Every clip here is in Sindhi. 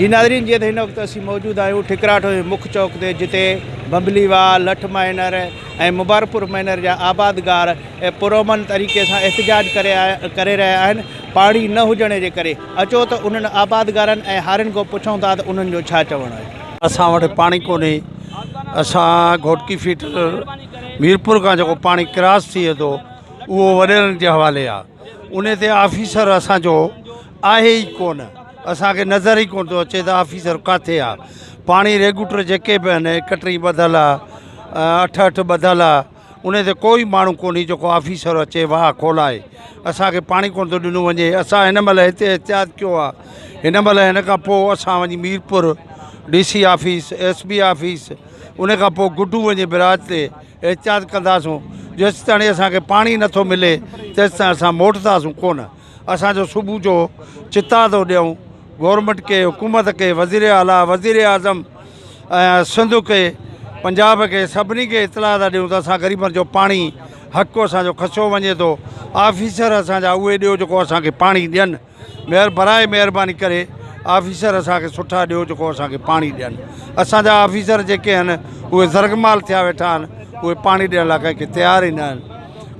جي ناظرين جيئن ته هن وقت اسين موجود آهيون ٺڪراٺ جي مک چوڪ تي جتي بمبلي واء، لٺ مائنر ۽ مبارڪ پور مائنر جا آبادگار پرامن طريقي سان احتجاج ڪري رهيا آهن پاڻي نه هجڻ جي ڪري اچو ته انهن آبادگارن ۽ هارين کان پڇون ٿا ته انهن جو ڇا چوڻ آهي. اسان وٽ پاڻي ڪونهي اسان گهوٽڪي فيڊر ميرپور کان جيڪو پاڻي ڪراس ٿئي ٿو اهو وڏيرن جي حوالي آهي انهي تي آفيسر اسان جو آهي ئي ڪونه اسان کي نظر ئي ڪونه ٿو اچي ته آفيسر ڪاٿي آ پاڻي ريگوٽر جيڪي به آهن هڪ ٽي ٻڌل آ اٺ اٺ ٻڌل آ انهي تي ڪوئي ماڻهو ڪونهي جيڪو آفيسر اچي واهه کولائي اسان کي پاڻي ڪونه ٿو ڏنو وڃي اسان هن مهل هتي احتياط ڪيو آ هن مهل هن کان پوء اسان وڃي Mirpur D C office S B office ان کان پوء گڊو وڃي براج تي احتياط ڪنداسون جيستاڻي اسان کي پاڻي نٿو ملي تيستائين اسان موٽنداسون ڪونه اسان جو صبح جو چتاء ٿو ڏيون گورنمينٽ کي حڪومت کي وزير اعليٰ وزير اعظم ۽ سنڌ کي پنجاب کي سڀني کي اطلاع ٿا ڏيون ته اسان غريبن جو پاڻي حق اسان جو کسيو وڃي ٿو آفيسر اسان جا اهي ڏيو جيڪو اسان کي پاڻي ڏين مهر برائي مهرباني ڪري آفيسر اسان کي سٺا ڏيو جيڪو اسان کي پاڻي ڏين اسان جا آفيسر جيڪي آهن اهي زرغمال ٿيا ويٺا آهن اهي پاڻي ڏيڻ لاء ڪنهن کي تيار ئي نه آهن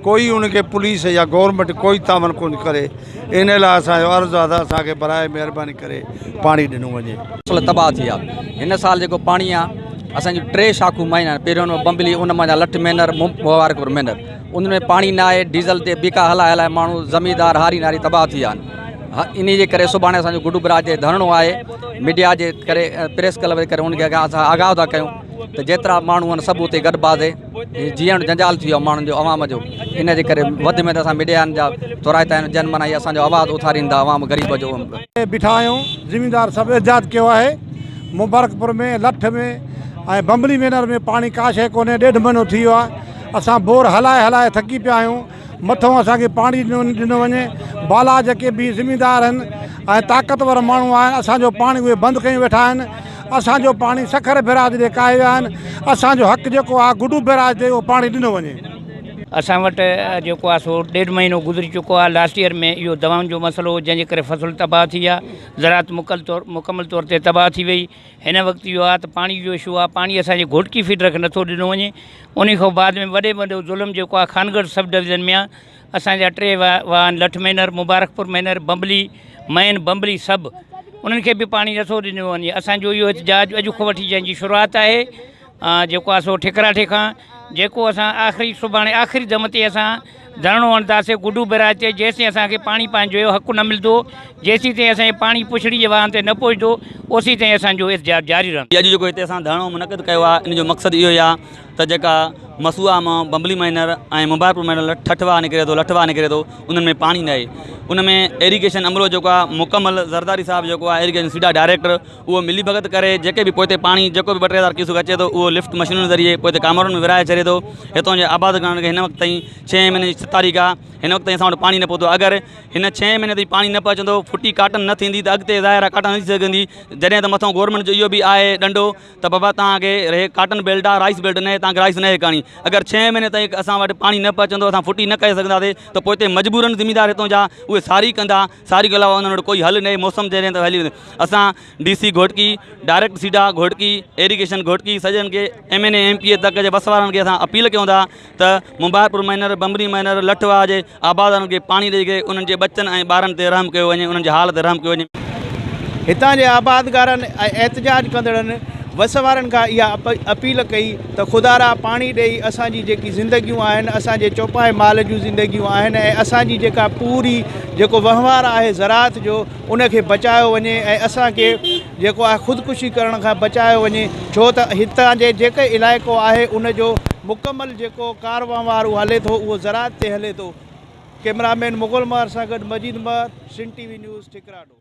ڪوئي ان کي پوليس يا گورنمينٽ ڪوئي تعاون ڪونھي ڪري ان لاء اسان جو عرض آ تھ اسان کي براء مھرباني ڪري پاڻي ڏنو وڃي. فصل تباھ ٿي ويا ھن سال جيڪو پاڻي آ اسان جون ٽي شاخون مئن آھن پھريون نمبر بمبلي ان مان جا لٺ مينھر مبارڪ پور مينھر انھن ۾ پاڻي نھ آھي ڊيزل تي بيڪا ھلائي ھلائي ماڻھو زميندار ھاري نھاري تباھ ٿي ويا آھن انھي جي ڪري سڀاڻي اسان جو گڊو براج تي ڌرڻو آھي ميڊيا جي ڪري پريس ڪلب جي ڪري ان کي اسان آگاھ ٿا ڪيون تھ جيترا ماڻھو آھن سڀ اتي گڏ باھھ ٿي جيئڻ جنجال ٿي ويو آهي ماڻهن جو عوام جو ان جي ڪري وڌ ۾ وڌ اسان ميڊيا جا ٿورائتا آهيون جن معنيٰ اهي اسان جو آواز اٿارين ٿا عوام غريب جو. بيٺا آهيون زميندار سڀ احتجاج ڪيو آهي مبارڪ پور ۾ لٺ ۾ ۽ بمبلي مينر ۾ پاڻي ڪا شيء ڪونهي ڏيڍ مهينو ٿي ويو آهي اسان بور هلائي هلائي ٿڪي پيا آهيون. مٿئون اسان کي پاڻي ڏنو وڃي بالا جيڪي به زميندار آهن ۽ طاقتور ماڻهو آهن اسان جو پاڻي اهي بند ڪيون ويٺا آهن اسان جو پاڻي سکر بيراج ڏي ڪاهي ويا آهن اسان جو حق جيڪو آهي گڊو بيراج تي اهو پاڻي ڏنو وڃي. اسان وٽ جيڪو آهي سو ڏيڍ مهينو گذري چڪو آهي لاسٽ ايئر ۾ اهو دوائن جو مسئلو هو جنهن جي ڪري فصل تباهه ٿي آهي زراعت مڪل طور مڪمل طور تي تباهه ٿي وئي هن وقت اهو آهي ته پاڻي جو اشو آهي پاڻي اسان جي گهوٽڪي فيڊر کي نٿو ڏنو وڃي انهي کان بعد ۾ وڏي ۾ وڏو ظلم جيڪو آهي خانگڙھ سب ڊويزن ۾ آهي اسان جا ٽي وا واهن لٺ مينھر مبارڪپور مينھر بمبلي مئن بمبلي سب انهن کي به پاڻي نٿو ڏنو وڃي اسانجو اهو احتجاج اڄ کان وٺي جنهنجي شروعات آهي جيڪو آهي سو ٺڪراٺي کان جيڪو اسان آخري سڀاڻي آخري دم تي اسان ڌرڻو هڻنداسين گڊو بئراج تي جيسين اسان کي پاڻي پنهنجو جو حق نه ملندو جيسين تائين اسان جي پاڻي پڇڙي جي واهن تي نه پهچندو اوسين تائين اسان جو احتجاج جاري رهندو. اڄ جيڪو هتي اسان ڌرڻو منعقد ڪيو آهي ان جو مقصد اهو ئي آهي ته جيڪا مسوئا مان بمبلي مائنر ۽ مبارڪپور مائنر ۾ ٺٺ واهه نڪري ٿو لٺ واهه نڪري ٿو انهن ۾ پاڻي ناهي ان ۾ ايريگيشن عملو جيڪو آهي مڪمل زرداري صاحب جيڪو آهي ايريگيشن سيڊا ڊائريڪٽر اهو ملي ڀڳت ڪري جيڪي به پوئتي پاڻي جيڪو به ٻه ٽي هزار ڪيوسڪ اچي ٿو اهو لفٽ مشينن ذريعي پوئتي ڪامورن ۾ ورهائي ڇڏي ٿو هتان جي آباد ڪرڻ کي هن وقت تائين ڇهين مهيني جي ست تاريخ آ هن وقت تائين اسان وٽ پاڻي نه پهتو آ اگر هن ڇهين مهيني تائين پاڻي نه پهچندو ڦٽي ڪاٽن نه ٿيندي ته اڳتي ظاهر آ ڪاٽن نه ٿي سگهندي جڏهن ته مٿان گورمينٽ جو اهو به آهي ڏنڊو ته بابا تهانکي هي ڪاٽن بيلٽ آ رائيس بيلٽ نه تهانکي رائيس نه ڪرڻي اگر ڇهين مهيني تائين اسان وٽ پاڻي نه پهچندو اسان ڦٽي نه ڪري سگهنداسي ته پوئتي مجبورن ذميدار هتان جا اهي ساري ڪندا ساري کان علاوه انهن وٽ ڪوئي حل نهي موسم تي رهين ته هلي ويندو اسان D C Ghotki direct SIDA Ghotki irrigation Ghotki سڄڻ کي M N A M P A تڪ جي بس وارن کي اسان اپيل ڪيون ٿا ته مبارڪپور مهينر بمبري مهينر لٺ واهه جي آبادارن کي پاڻي ڏئي ڪري انهن جي ٻچن ۽ ٻارن تي رحم ڪيو وڃي انهن جي حال تي رحم ڪيو وڃي. هتان جي آبادگارن ۽ احتجاج ڪندڙن بس وارن کان اها اپيل ڪئي ته خدا را پاڻي ڏئي اسان جي جيڪي زندگيون آهن اسان جي چوپائي مال جون زندگيون آهن ۽ اسان جي جيڪا پوري جيڪو وهنوار آهي زراعت جو ان کي بچايو وڃي ۽ اسان کي جيڪو آهي خودڪشي ڪرڻ کان بچايو وڃي ڇو ته هتان جي جيڪي علائقو آهي ان جو مڪمل جيڪو ڪار وهنوار اهو هلي ٿو اهو زراعت تي هلي ٿو ڪئميرا مين مغل مهر سان گڏ Majeed Mahar Sindh T V news ٺڪراڊو.